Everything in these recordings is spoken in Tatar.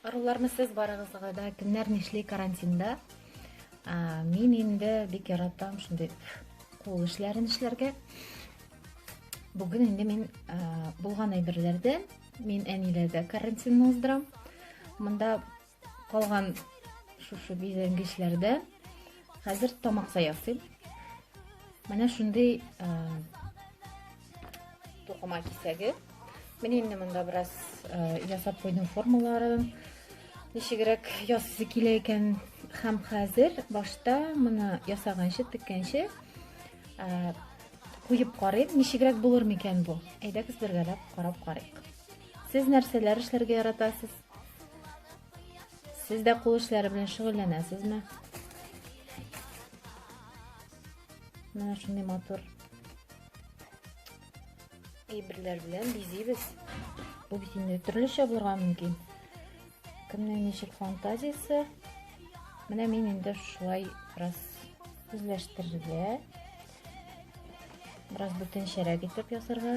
Аруларны сез барыгызга да кемнәр нишли карантинда? Мин инде бик яратам шундый кул эшләрен эшләргә. Бүген инде мин булган әйберләрдән мин әниләрдә карантинны уздырам. Монда Калган шушы бизәнгечләрдә хәзер тамакта ясыйм. Менә шундый тукыма кисәге. Мин инде монда бераз ясап куйдым формаларын. Ничегрәк ясысы килә икән һәм хәзер башта моны ясаганчы, теккәнче куеп карыйм, ничегрәк булыр микән бу? Әйдәгез бергәләп карап карыйк. Сез нәрсәләр эшләргә яратасыз? Сез дә кул эшләре белән шөгыльләнәсезме? Менә шундый матур әйберләр белән бизибез. Бу бит инде төрлечә булырга мөмкин. Кемнең ничек фантазиясе? Менә мин инде шулай бераз үзләштерергә, бераз бүтәнчәрәк итеп ясарга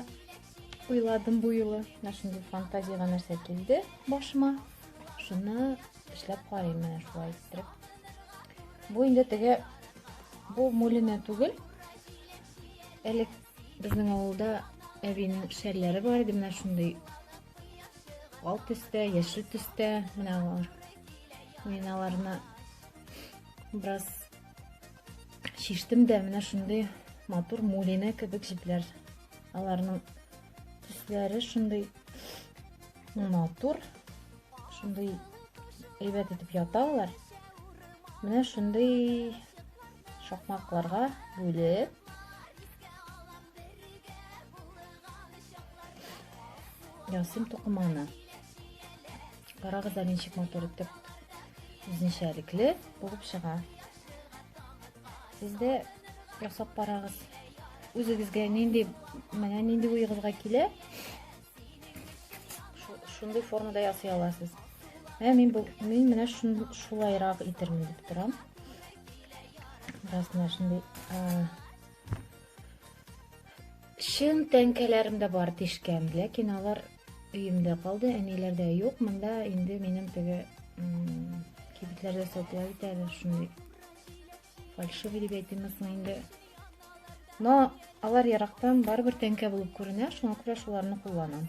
уйладым бу юлы. Менә шундый фантазиягә нәрсә килде башыма. Шуны эшләп карыйм менә шулай иттереп. Бу инде теге бу мулина түгел. Элек безнең авылда әбинең шәлләре бар иде, менә шундый ал төстә, яшел төстә, менә алар. Мин аларны бераз Шиштем дә менә шундый матур мулине кебек җепләр. Аларның төсләре шундый матур, шундый әйбәт итеп ята алар. Менә шундый шакмакларга бүлеп ясыйм тукыманы. Карагыз әле ничек матур итеп үзенчәлекле булып чыга. Сез дә ясап карагыз. Үзегезгә нинди, менә нинди уегызга килә, шундый формада ясый аласыз. Ә мин бу мин менә шулайрак итермен дип торам. Беразна шундый чын тәңкәләрем дә бар тишкән, ләкин алар Өемдә калды, әниләрдә юк. Монда инде минем теге кибетләрдә сатыла бит әле шундый фальшивый дип әйтимме соң инде. Но алар ярактан барыбер тәңкә булып күренә, шуңа күрә шуларны кулланам.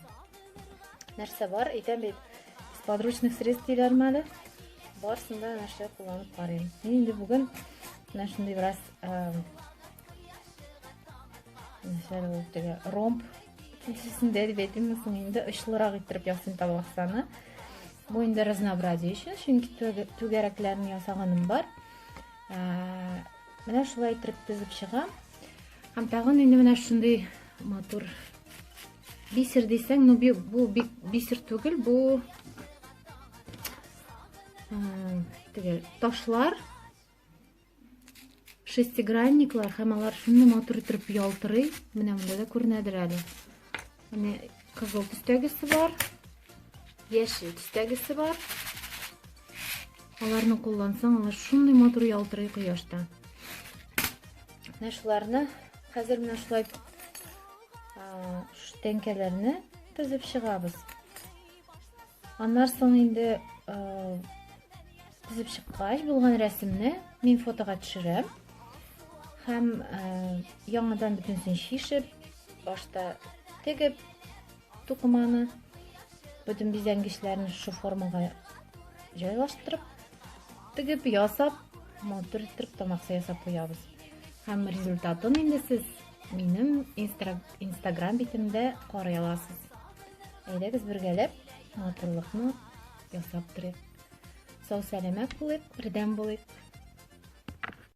Нәрсә бар? Әйтәм бит, с подручных средств диләрме әле? Барысын да нәрсә кулланып карыйм. Мин инде бүген менә шундый бераз Мәсәлән, ул теге ромб кесәсендә дип әйтимме соң инде очлырак иттереп ясыйм табаксаны. Бу инде разнообразие өчен, чөнки түгәрәкләрне ясаганым бар. Ә, менә шулай иттереп тезеп чыгам. Һәм тагын инде менә шундый матур бисер дисәң, ну бу бик бисер түгел, бу теге ташлар шестигранниклар һәм алар шундый матур итеп ялтырый. Менә монда да күренәдер әле. Менә кызыл төстәгесе бар, яшел төстәгесе бар. Аларны куллансаң, алар шундый матур ялтырый кояшта. Менә шуларны хәзер менә шулай тәңкәләрне тезеп чыгабыз. Аннар соң инде кызып чыккач булган рәсемне мин фотога төшерәм һәм яңадан бөтенесен чишеп, башта тегеп тукыманы, бөтен бизәнгечләрен шушы формага җайлаштырып, тегеп, ясап, матур иттереп тамакса ясап куябыз. Һәм результатын инде сез Минем инстаграм битемдә карый аласыз. Әйдәгез бергәләп матурлыкны ясап торыйк. Сау-сәламәт булыйк, бердәм булыйк.